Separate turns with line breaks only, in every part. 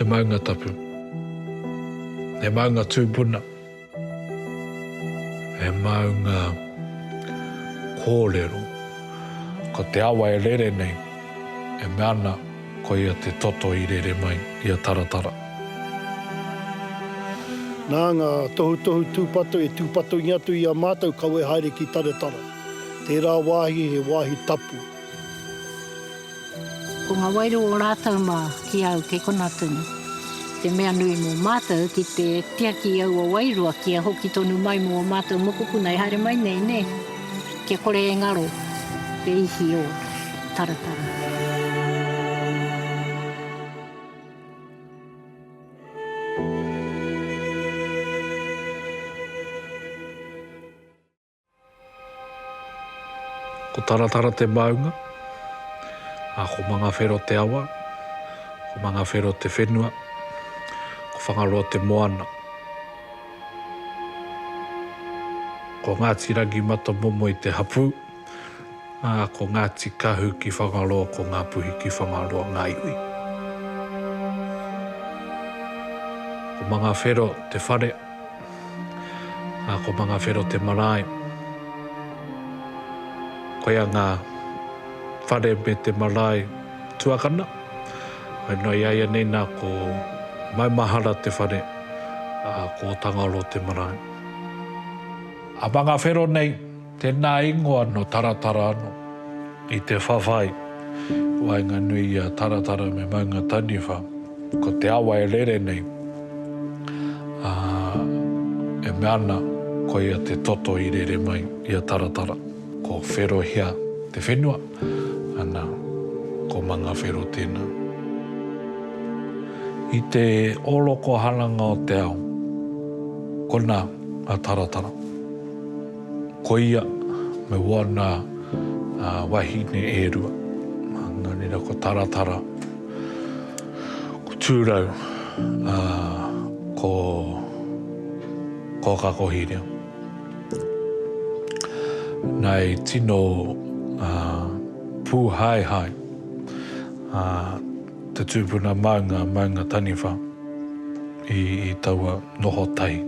He maunga tapu. He maunga tūpuna. He maunga kōrero. Ko te awa e rere nei, e mea ana ko ia te toto i rere mai i a Taratara.
Nā ngā tohutohu tūpato e tūpatongia atu i a mātou kawe haere ki Taratara. Tērā wāhi he wāhi tapu.
Ko ngā wairua o rātou mā ki a au kei konā tonu. Te mea nui mō mātou ki te tiaki i aua wairua kia hoki tonu mai mō ō mātou mokopuna e haere mai nei, nē? Kia kore e ngaro te ihi o Taratara.
Ko Taratara te maunga, ā, ko Mangawhero te awa, ko Mangawhero te whenua, ko Whangaroa te moana. Ko Ngāti Rangimatamomoe te hapū, ā, ko Ngāti Kahu ki Whangaroa, ko Ngāpuhi ki Whangaroa ngā iwi. Ko Mangawhero te whare, Ā, ko Mangawhero te marae. Koia ngā whare me te marae tuakana. Waenua i a ia nei nā, ko Maumahara te whare, ā, ko Ōtangaoro te marae. A Mangawhero nei. Tēnā ingoa nō Taratara anō. I te whawhai waenganui i a Taratara me Maunga Taniwha, ko te awa e rere nei, ā, e mea ana koia te toto i rere mai i a Taratara. Ko Wherohia te whenua, ana, ko Mangawhero tēnā. I te orokoharanga o te ao, konā a Taratara. Koia, me wāna wahine e rua. Nō reira ko Taratara, ko Tūrau, ā, ko Kōkakohirea. Nā, i tino pūhaehae, ā. Te tūpuna maunga, maunga taniwha, i taua noho tahi,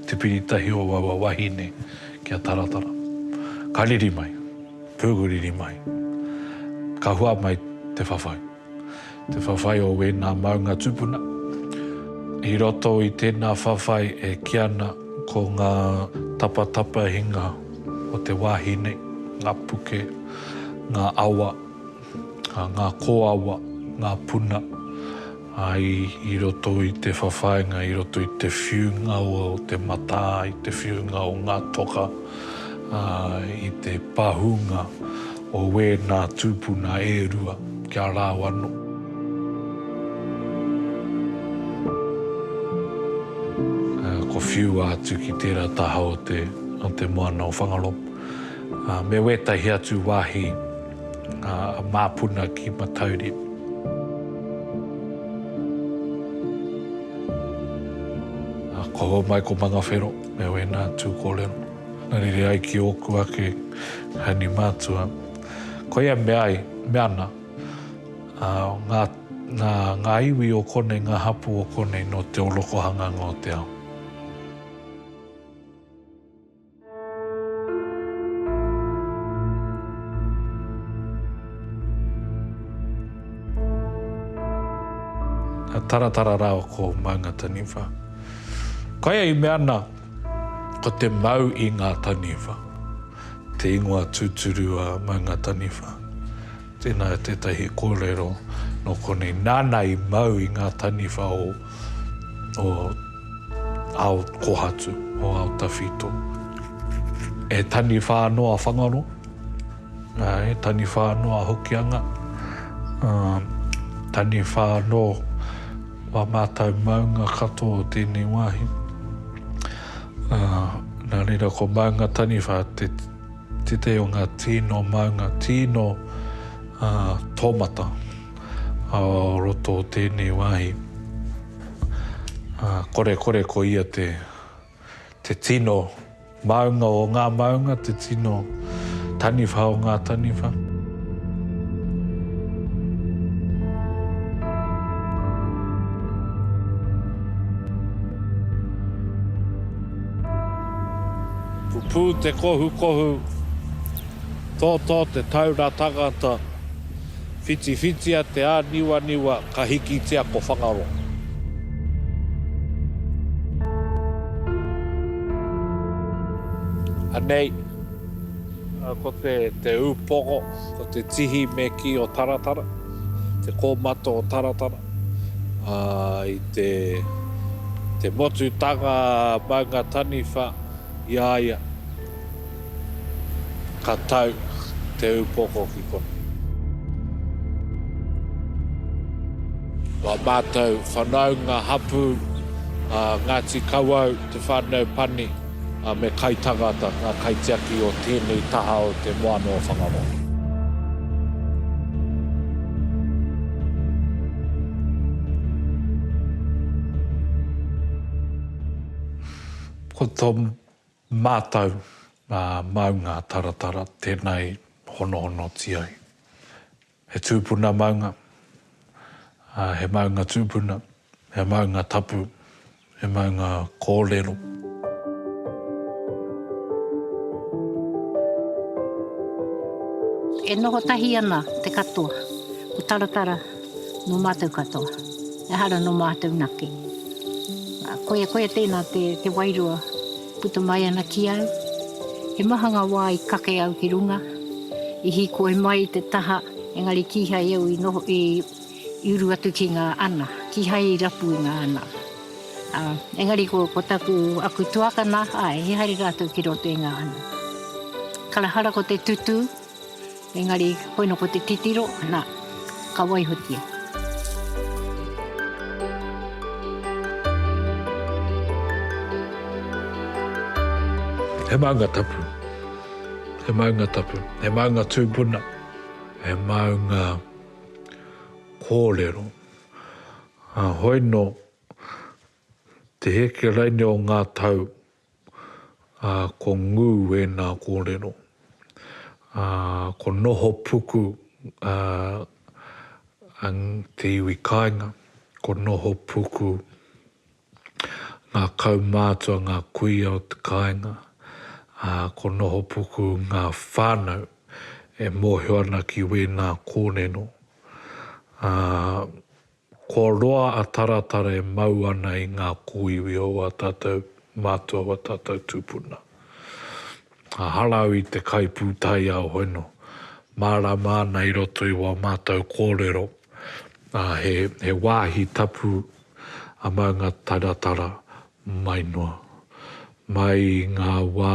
te piri tahi o aua wahine ki a Taratara. Ka riri mai, pūguriri mai, ka hua mai te whawhai. Te whawhai o wēnā maunga tūpuna. I roto i tēnā whawhai e kī ana ko ngā tapatapahinga o te wāhi nei, ngā puke, ngā awa, ngā kōawa, ngā puna i roto i te whawhainga, i roto i te whiunga o te matā, i te whiunga o ngā toka, i te pahūnga o wēnā tūpuna e rua kia rāu anō. Kua whiua atu ki tērā taha o te moana o Whangaroa me wētahi atu wāhi. Ngā māpuna ki Matauri. Ka homai ko Mangawhero me ōna tū kōrero. Na rere ai ki ōku ake Hani mātua. Koia mea ai, mea ana, ngā, ngā, ngā iwi o konei, ngā hapū o konei nō te orokohanga ngō te ao. Ka taratara rā ko Maunga Taniwha. Koia i mea ana, ko te mau i ngā taniwha, te ingoa tūturu a Maunga Taniwha. Tēnā tētahi kōrero nō konei nāna i mau i ngā taniwha o o ao kohatu, o ao tawhito. E taniwha anō a Whangaro, ā, e taniwha anō a Hokianga, ā, taniwha anō wā mātau maunga katoa o tēnei wāhi. Ā, nā reira ko Maunga Taniwha te. Tētahi o ngā tīno maunga, tīno tōmata o roto o tēnei wāhi. Kore kore ko ia te tīno maunga o ngā maunga, te tīno taniwha o ngā taniwha. Pupū te kohukohu, tōtō te taura tangata, whitiwhitia te āniwaniwa ka hikitia ko Whangaroa. Anei, ko te ūpoko, ko te tihi me kī o Taratara, te kōmata o Taratara, i te motutanga maunga taniwha. I a ia, ka tau te upoko ki konei. Ko a matou whanaunga hapu a Ngati Kawau, te whanau pani, a me kaitangata nga kaitiaki o tenei taha o te moana o Whangaroa. Ko to matou maunga taratara tena i honohonoti ai. He tupuna maunga, he maunga tupuna, he maunga tapu, he maunga korero.
E noho tahi ana te katoa, ko taratara. Nō mātou katoa. Ehara nō mātou nake. Koia, koia tēnā te, te wairua puta mai ana ki au. He maha ngā wā i kake au ki runga, i hīkoi mai i te taha, engari kīhai au i noho, i, i uru atu ki ngā ana. Kīhai i rapu i ngā ana. Ā, engari ko, ko taku, aku tuakana, āe, he haere rātou ki roto i ngā ana. Karahara ko te tutū. Engari, koina ko te titiro, na, ka waihotia.
He maunga tapu. He maunga tapu. He maunga tūpuna. He maunga kōrero. Hoi no, te heke raine o ngā tau, ā, ko ngū ēnā kōrero, ā, ko noho puku ā, ā te iwi kāinga, ko noho puku ngā kaumātua, ngā kuia o te kāinga, ā, ko noho puku ngā whānau e mōhio ana ki wēnā kōrero, ā. Ko roa a Taratara e mau ana i ngā kōiwi o wā tātou mātua wā tātou tūpuna. A harau i te kai pūtaiao hono, mārāma ana i roto i wā mātou kōrero, ā, he, he wāhi tapu a Maunga Taratara mai noa, mai i ngā wā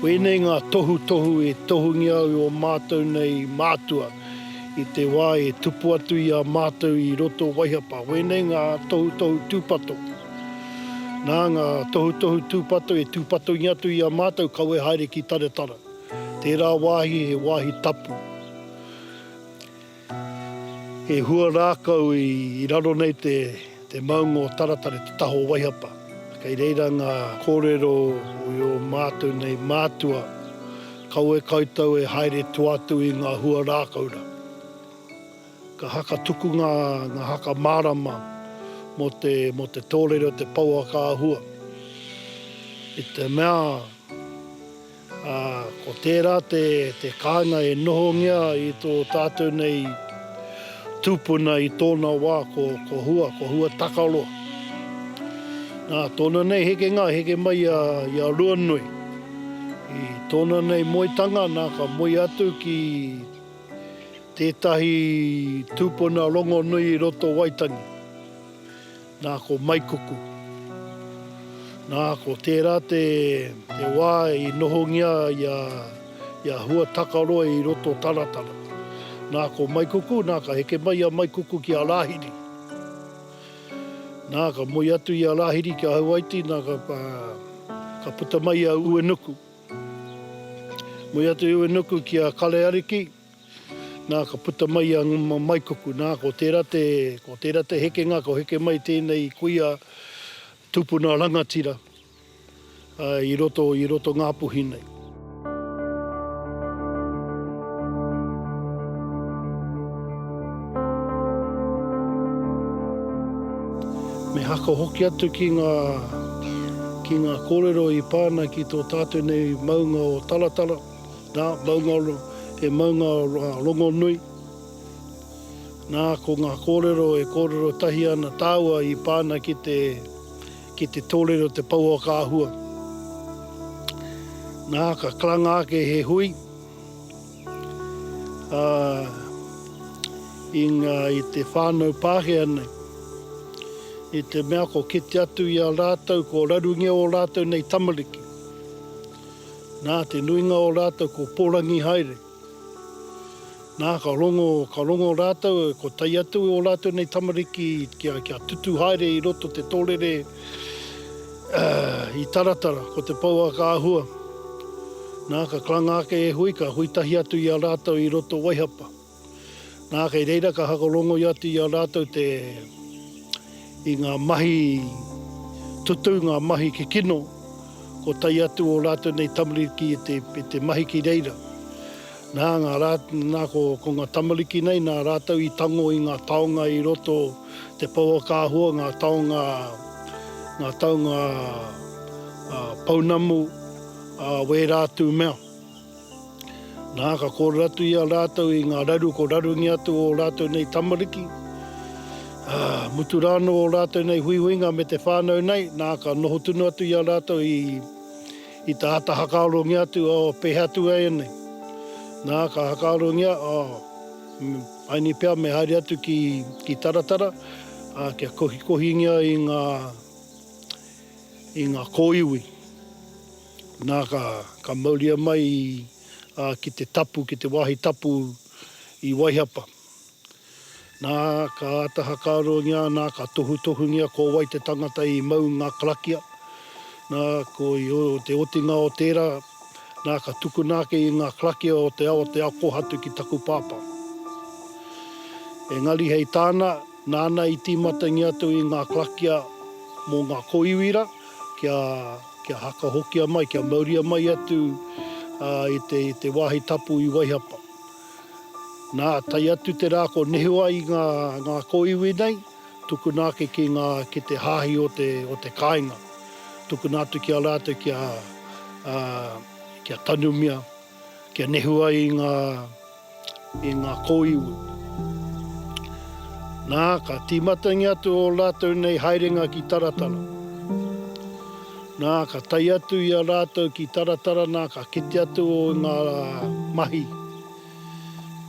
Wēnei ngā tohutohu e tohungia au i ō mātou nei mātua i te wā e tupu atu i a mātou i roto Waihapa. Wēnei ngā tohutohu tūpato. Nā ngā tohutohu tūpato e tūpatongia atu i a mātou kawe haere ki Taratara. Tērā wāhi he wāhi tapu. He hua rākau i raro nei te maunga o Taratare, te taha o Waihapa. Kei reira ngā kōrero i ō mātou nei mātua, kawe koutou e haere toa atu i ngā hua rākau rā. Ka haka tuku ngā haka mārama mō te tōrere o te pouaka āhua. I te mea. ā, ko tērā te kāinga e nohongia i tō tātou nei tūpuna i tōna wā ko Hua, ko Hua Takaroa. Nā tōna nei hekenga heke mai i a Ruanui. I tōna nei moetanga nā ka moe atu ki tētahi tūpuna rongonui i roto Waitangi. Nā, ko Maikuku. Nā, ko tērā te wā i nohongia i a Huatakaroa i roto taratara. Nā, ko Maikuku, nā, ka heke mai a Maikuku ki a Rāhiri. Nā, ka moe atu i a Rāhiri ki a Hawaiti, nā, ka puta mai a Uenuku. Moe atu i Uenuku ki a Kareariki. Nā, ka puta mai a Maikuku, nā, ko tērā te, ko tērā te hekenga, ka heke mai tēnei kuia tupuna rangatira i roto, i roto Ngāpuhi nei. Me haka hoki atu ki ngā, ki ngā kōrero i pā ana ki tō tātou nei maunga o Taratara. Nā, maungaoro, he maunga rongonui. Nā, ko ngā kōrero e kōrero tahi ana tāua i pā ana ki te, ki te tōrere o te pouaka-āhua. Nā, ka karanga ake he hui, ā, i ngā, i te whānau Pākehā nei, i te mea ko kite atu i a rātou, ko rarungia ō rātou nei tamariki. Nā te nuinga o rātou ko pōrangi haere. Nā, ka rongo, ka rongo rātou, ko tae atu ō rātou nei tamariki kia, kia tutu haere i roto te tōrere i Taratara, ko te pouaka āhua. Nā, ka karanga ake e Hui, ka hui tahi atu i a rātou i roto Waihapa. Nā, kei reira ka hakarongoia atu i a rātou te, i ngā mahi tutū, ngā mahi kikino, ko tai atu ō rātou nei tamariki i te, i te mahi ki reira. Nā, ngā rā, nā, ko, ko ngā tamariki nei, nā rātou i tango i ngā taonga i roto, te pouakāhua, ngā taonga, ngā taonga, ā, pounamu, ā, wērā atu mea. Nā, ka kōrero atu i a rātou i ngā raru ko rarungi atu ō rātou nei tamariki, ā, mutu rānō ō rātou nei huihuinga me te whānau nei, nā, ka noho tunu atu i a rātou i, i te āta hakarongia atu, oh, pēhea atu ēnei? Nā, ka hakarongia, oh, ēnei pea me haere atu ki, ki Taratara, ā, kia kohikohingia i ngā, i ngā kōiwi. Nā, ka mauria mai ki te tapu, ki te wāhi tapu i Waihapa. Nā, ka āta hakarongia, nā, ka tohutohungia ko wai te tangata i mau ngā karakia. Nā, ko te otinga o tērā, nā, ka tukuna ake i ngā karakia o te ao, o te ao kōhatu ki taku pāpā. Engari hei tāna, nāna i tīmatangia atu i ngā karakia mō ngā kōiwi rā, kia. Kia hakahokia mai, kia mauria mai atu i te wāhi tapu i Waihapa. Nā, tae atu te rā ko nehu ai ngā kōiwi nei, tukuna ake ki ngā, ki te hāhi o te, o te kāinga. Tukuna atu ki a rātou kia, kia tanumia. Kia nehu ai i ngā, i ngā kōiwi. Nā, ka tīmatangi atu ō rātou nei haerenga ki Taratara. Nā, ka tae atu i a rātou ki Taratara, nā, ka kite atu ō i ngā mahi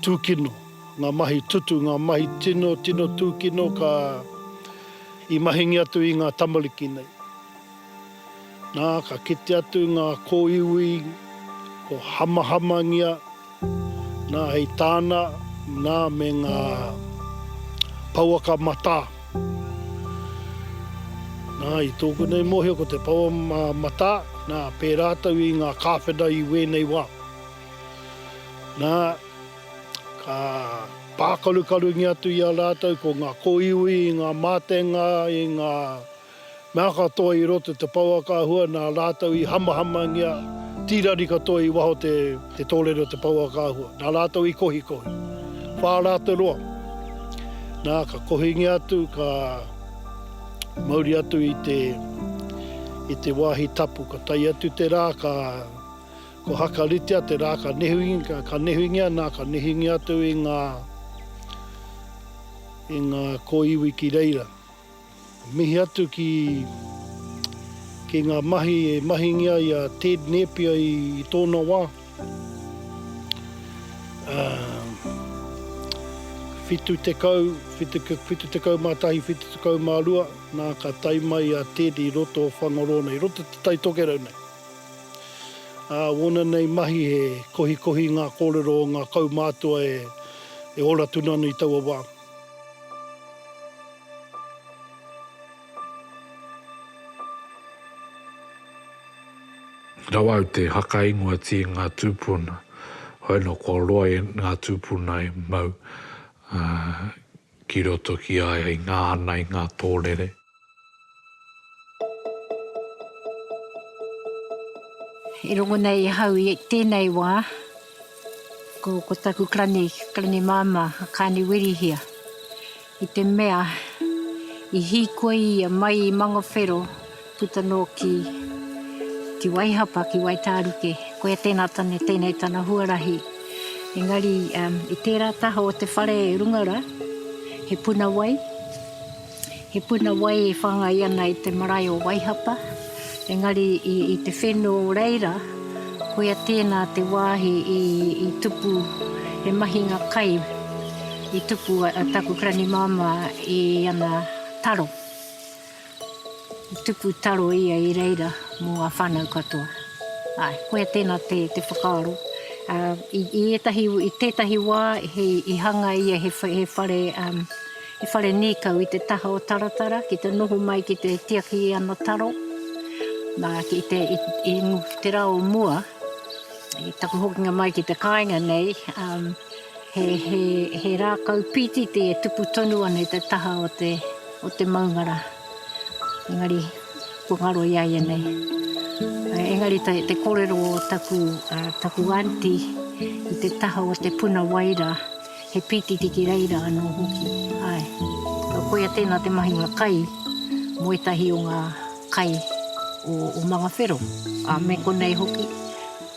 tūkino, ngā mahi tutu, ngā mahi tino, tino tūkino ka, i mahingi atu i ngā tamariki nei. Nā, ka kite atu ngā kōiwi, ko Hamahamangia, nā, hei tāna, nā, me ngā pouaka matā. Nā, i tōku nei mōhio ko te pouaka matā, nā, pē rātou i ngā kāwhena i wēnei wā. Nā, ka pākarukarungia atu i a rātou ko ngā kōiwi i ngā mātenga, i ngā. Mea katoa i roto te pouaka ahua na ratou i hamahamangia tirari katoa i waho te te torere o te pouaka ahua na ratou i kohikohi. Wha ra te roa. Na ka kohingia atu ka mauri atu i te i te wahi tapu ka tae atu te ra ka ko hakaritea te ra ka nehuinga ka nehuingia na ka nehuingia atu i nga i nga koiwi ki reira. Mihi atu ki ki ngā mahi e mahingia i a Ted Nēpia i tōna wā. Ā, 70, 71, 72, nā, ka tae mai a Ted i roto o Whangaroa nei, i roto i Te Tai Tokerau nei. Ā, wōna nei mahi he kohikohi ngā kōrero o ngā kaumātua e, e ora tunu ana i taua wā.
Rawa au te hakaingoa tie nga tupuna, hoi no kua roa e nga tupuna e mau ki roto ki a ia i nga ana i nga torere.
I rongo nei ahau i tēnei wā, ko, ko taku klani, klani māmā, a Kāni Wirihia, i te mea i hīkoi ia mai i Mangawhero puta nō ki, ki Waihapa, ki Waitāruke, koia tēnā tane, tēnei tana huarahi. Engari, um, i tērā taha o te whare e runga ra, he puna wai, He puna wai e whangai ana i te marae o Waihapa, engari i te whenu o reira, koia tēnā te wāhi i tupu he mahinga kai i tupu a taku granimāmā i ana taro. I tupu taro ia i reira mō ngā whānau katoa. Āe, koia tēnā te whakaaro. I ētahi, i tētahi wā i hanga ia he whare, He whare nīkau i te taha o Taratara ki te noho mai ki te tiaki i ana taro, nā, ki te, i te rā o mua, i taku hokinga mai ki te kāinga nei, he, he, he rākau pītiti e tupu tonu ana i te taha o te, o te maungara. Engari, kua ngaro i a ia nei. Engari te, te kōrero o taku, taku aunty i te taha o te puna wai rā, He pītiti ki reira anō hoki, āe. Nō koia tēnā te mahinga kai mō ētahi o ngā kai o Mangawhero, ā, me konei hoki,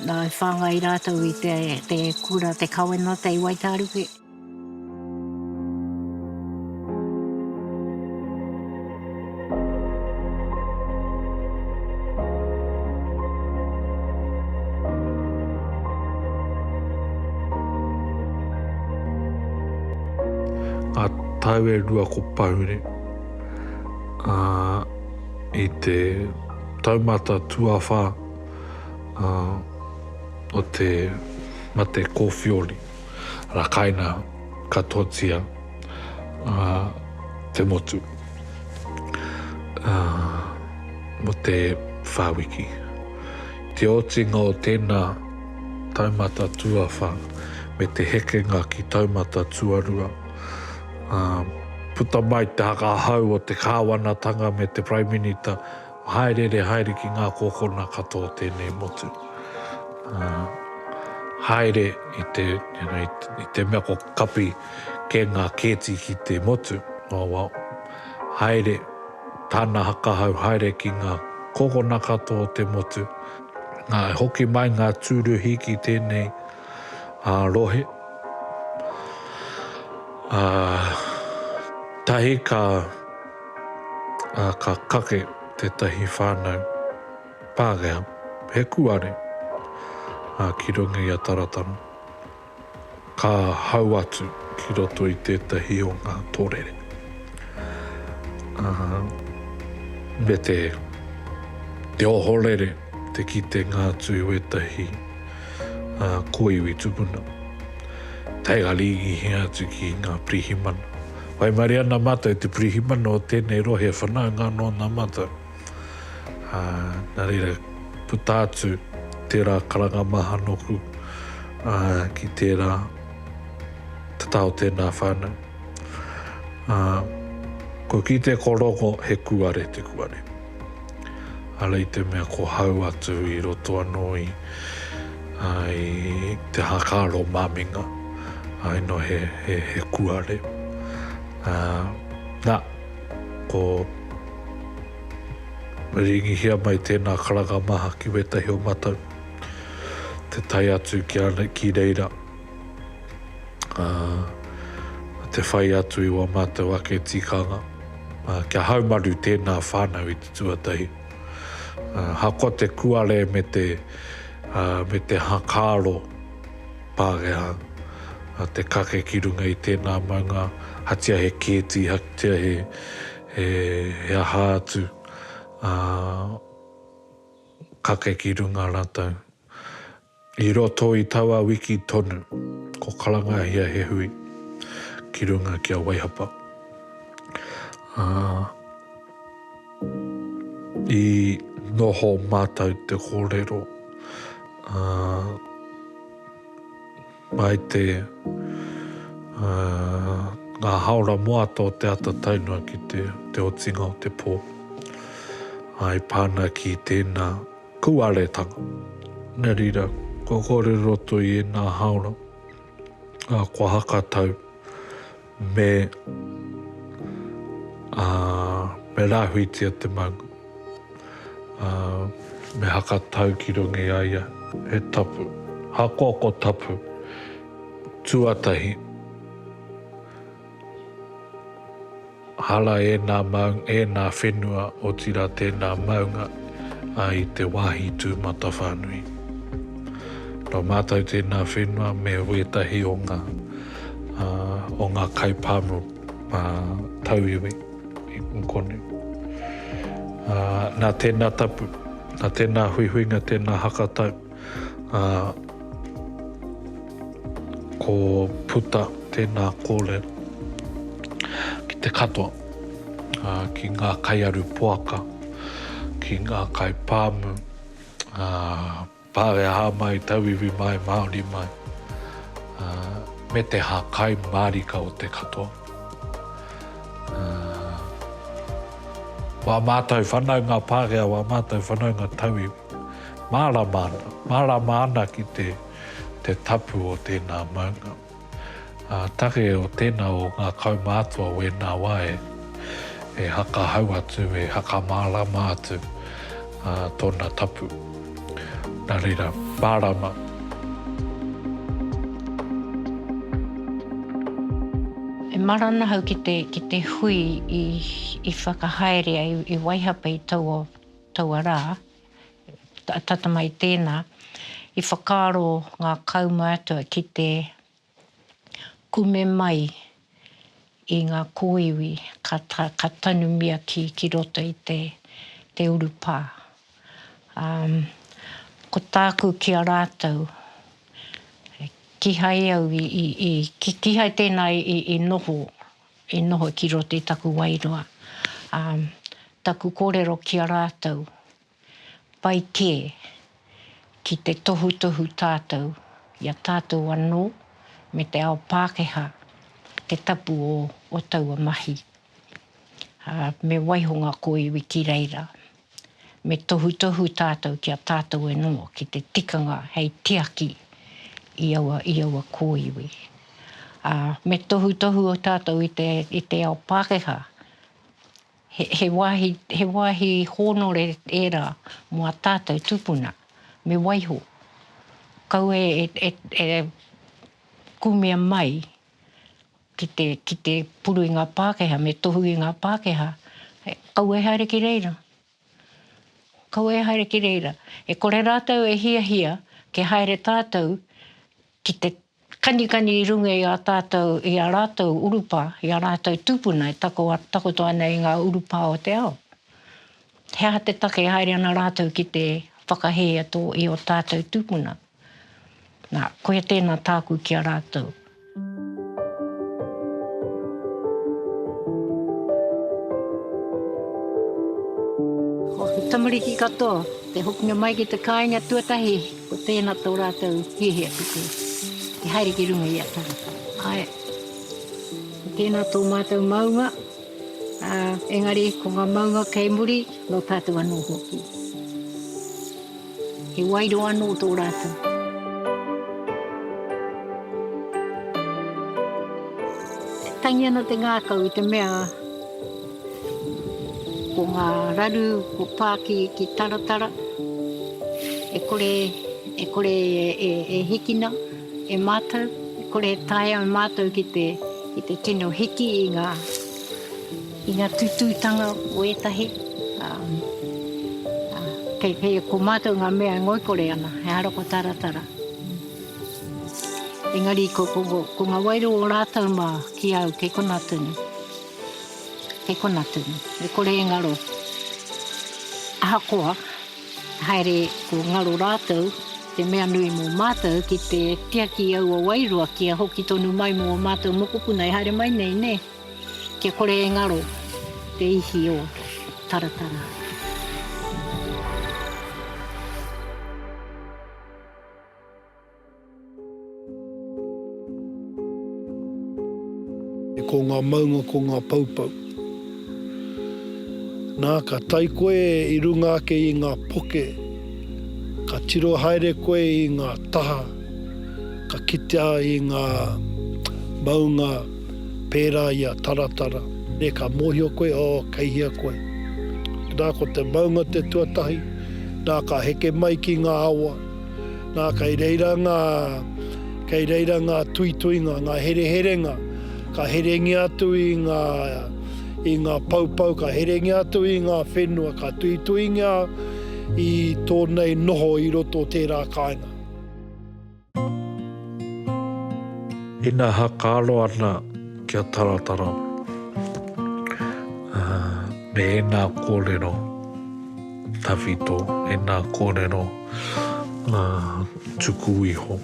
nā, i whāngai rātou i te kura, te kawenata i Waitāruke.
Ngā tau e rua ko Pahure, ā, i te taumata tuawhā, ā, o te mate kōwhiori. rakaina katoatia a te motu mo te whawiki. Te otinga o tēnā taumata tuawha me te hekenga ki taumata tuarua, puta mai te haka hau o te kāwanatanga me te Prime Minita Hāereere haere ki ngā kōkona katoa o tēnei motu. Haere i te, you know, i te mea ko kapi kē ngā kēti ki te motu. Oh well, haere tāna hakahau, haere ki ngā kōkona katoa o te motu. Nā, i hoki mai ngā tūruhi ki tēnei rohe. Tahi ka. ā, ka kake tētahi whānau Pākehā, he kuare, ā, ki runga i a Taratana, ka hau atu ki roto i tētahi o ngā tōrere, ā, me te, te ohorere te kitenga atu i wētahi, ā, kōiwi tupuna, taiharingihia atu ki ngā pirihimana. Waimarie ana mātou i te pirihimana o tēnei rohe whanaunga anō nā mātou. Ā, nā reira, puta atu tērā karanga maha nōku, ā, ki tērā te taha o tēnā whānau. Ā, kua kite ko Rongo he kūare te kūare. Ara i te mea ko hau atu i roto anō i i te hākāro māminga, ai no he he kuare. Na, ko ringihia mai tēnā karanga maha ki wētahi o matau, te tae atu ki reira, te whai atu i wā mātou ake tikanga, kia haumaru tēnā whānau i te tuatahi. Ahakoa te kuare me te hakaaro Pākehā, te kake ki runga i tēnā maunga, hatia he kēti, hatia he aha atu, kake ki runga rātou. I roto i taua wiki tonu, ko Karangahia he hui ki runga ki a Waihapa. Ā, i noho mātou te kōrero, ā, mai te, ā, ngā hāora moata o te ata tae noa ki te otinga o te pō. Ā, i pā ana ki tēnā. Kuaretanga. Nā reira, kua kore roto i ēnā hāora, ā, kua hakatau me, ā, me rāhuitia te maunga, ā, me hakatau ki runga i a ia he tapu, ahakoa ko tapu tuatahi. Hara ēnā maung, ēnā whenua, otirā tēnā maunga i te wāhi tūmatawhānui. Nō mātou tēnā whenua me wētahi o ngā o ngā kaipāmu tauiwi i konei. Nā tēnā tapu, nā tēnā huihuinga, tēnā hakatau, Ā, ko puta tēnā kōrero ki te katoa, ā, ki ngā kaiaru poaka, ki ngā kaipāmu, ā, Pākehā mai, Tauiwi mai, Māori mai, ā, me te hākai mārika o te katoa. Ā, wā mātou whanaunga Pākehā, wā mātou whanaunga Tauiwi. Mārama ana, mārama ana ki te, te tapu o tēnā maunga. Ā, take o tēnā o ngā kaumātua wēnā wā e, e hakahau atu, e hakamārama atu, ā, tōna tapu. Nā reira, mārama.
E mara ana ahau ki te, ki te hui i, i whakahaere ai, i waihapa i taua. Taua rā, tata mai tēnā, i whakaaro ngā kaumātua ki te kume mai i ngā kōiwi ka tanumia ki roto i te urupā. Ā, ko tāku ki a rātou, kīhai au i, kīhai tēnā i noho. I noho ki roto i taku wairua, ā, taku kōrero ki a rātou, pai kē, ki te tohutohu tātou i a tātou anō me te ao Pākehā te tapu o taua mahi, ā, me waiho ngā kōiwi ki reira. Me tohutohu tātou ki a tātou anō ki te tikanga hei tiaki i aua, i aua kōiwi. Ā, me tohutohu tātou i te, i te ao Pākehā, he, he wāhi, he wāhi hōnore ērā mō ā tātou tūpuna, me waiho. Kaua e, e, e kuhumia mai ki te, ki te puru i ngā Pākehā, me tohu i ngā Pākehā, kaua e haere ki reira. Kaua e haere ki reira. E kore rātou e hiahia kia haere tātou ki te kanikani i runga i a tātou, i a rātou urupā, i a rātou tūpuna e tako, takoto ana i ngā urupā o te ao. He aha te take e haere ana rātou ki te whakahē i ō tātou tūpuna? Nā, koia tēnā tāku ki a rātou. Ko te tamariki katoa, te hokinga mai ki te kāinga tuatahi, ko tēnā tō rātou hiahia tuku, ki te haere ki runga i a tangata. Ae, ko tēnā tō mātou maunga, ā, engari ko ngā maunga kei muri, nō tātou anō hoki. He wairua anō tō rātou. Tangi ana te ngākau i te mea ko ngā raru, ko Pāki ki Taratara, e kore, e kore e, e, e hikina e mātou, e kore e taea e mātou ki te, ki te tino hiki i ngā I nga tututanga o etahi, a, a, kei, kei a ko matou nga mea e ngoikore ana, ehara ko taratara. Engari ko, ko, ko, ko nga wairua o ratou ma ki au kei kona tunu. Kei kona tunu. E kore e ngaro. Ahakoa, haere ko ngaro ratou, te mea nui mo matou ki te tiaki i aua wairua kia hoki tonu mai mo o matou mokopuna e haere mai nei, ne? Kia kore e ngaro te ihi o Taratara.
Ko ngā maunga ko ngā poupou. Nā, ka tae koe i runga ake i ngā poke, ka tiro haere koe i ngā taha, ka kitea i ngā maunga, pērā i a Taratara, nē, ka mōhio koe, oh, kei hea koe. Nā, ko te maunga te tuatahi, nā, ka heke mai ki ngā awa, nā, kei reira ngā, kei reira ngā tuituinga, ngā hereherenga, ka herengia atu i ngā, i ngā poupou, ka herengia atu i ngā whenua, ka tuituingia i tōnei noho i roto o tērā kāinga.
Ina hakaro ana kia taratara me ena korero tawhito, ena korero tuku iho.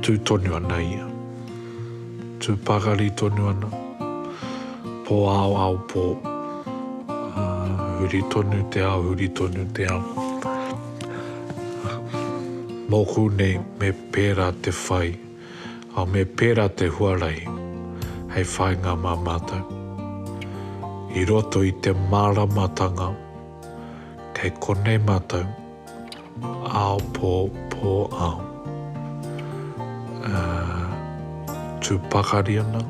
Tū tonu ana ia. Tū pakari tonu ana. Pōāoāo pō. Huri tonu te ao, huri tonu te ao. Nōku nei me pērā te whai, ā, me pērā te huarahi hei whāinga mā mātou. I roto i te māramatanga, kei konei mātou. Ao po po ao Tu pakari ana,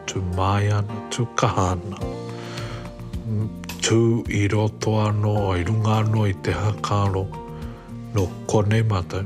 tu maia ana, tu kaha ana Tu i roto ano, i runga ano i te hakaro No konei matou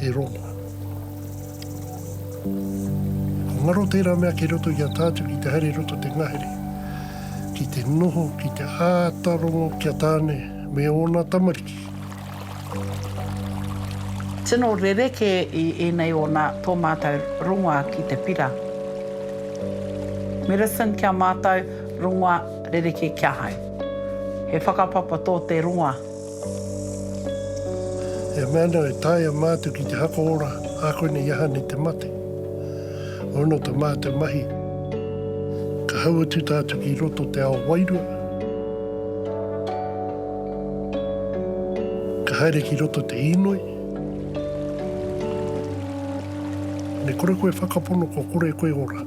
He rongo. Ko ngaro tērā mea kei roto i a tātou ki te haere i roto te ngahere, ki te noho, ki te āta rongo ki a Tāne me ōna tamariki.
Tino rerekē i ēnei o nā tō mātou rongoā ki te pira. Medicine ki a mātou, rongoā rerekē ki ahau. He whakapapa tō te rongoā.
He mea nō e taea mātou ki te haka ora ā konei i aha nei te mate. Ono ta mā te mahi, ka hau atu tātou ki roto o te ao wairua, ka haere ki roto te īnoi, me kore koe whakapono kua kore koe ora.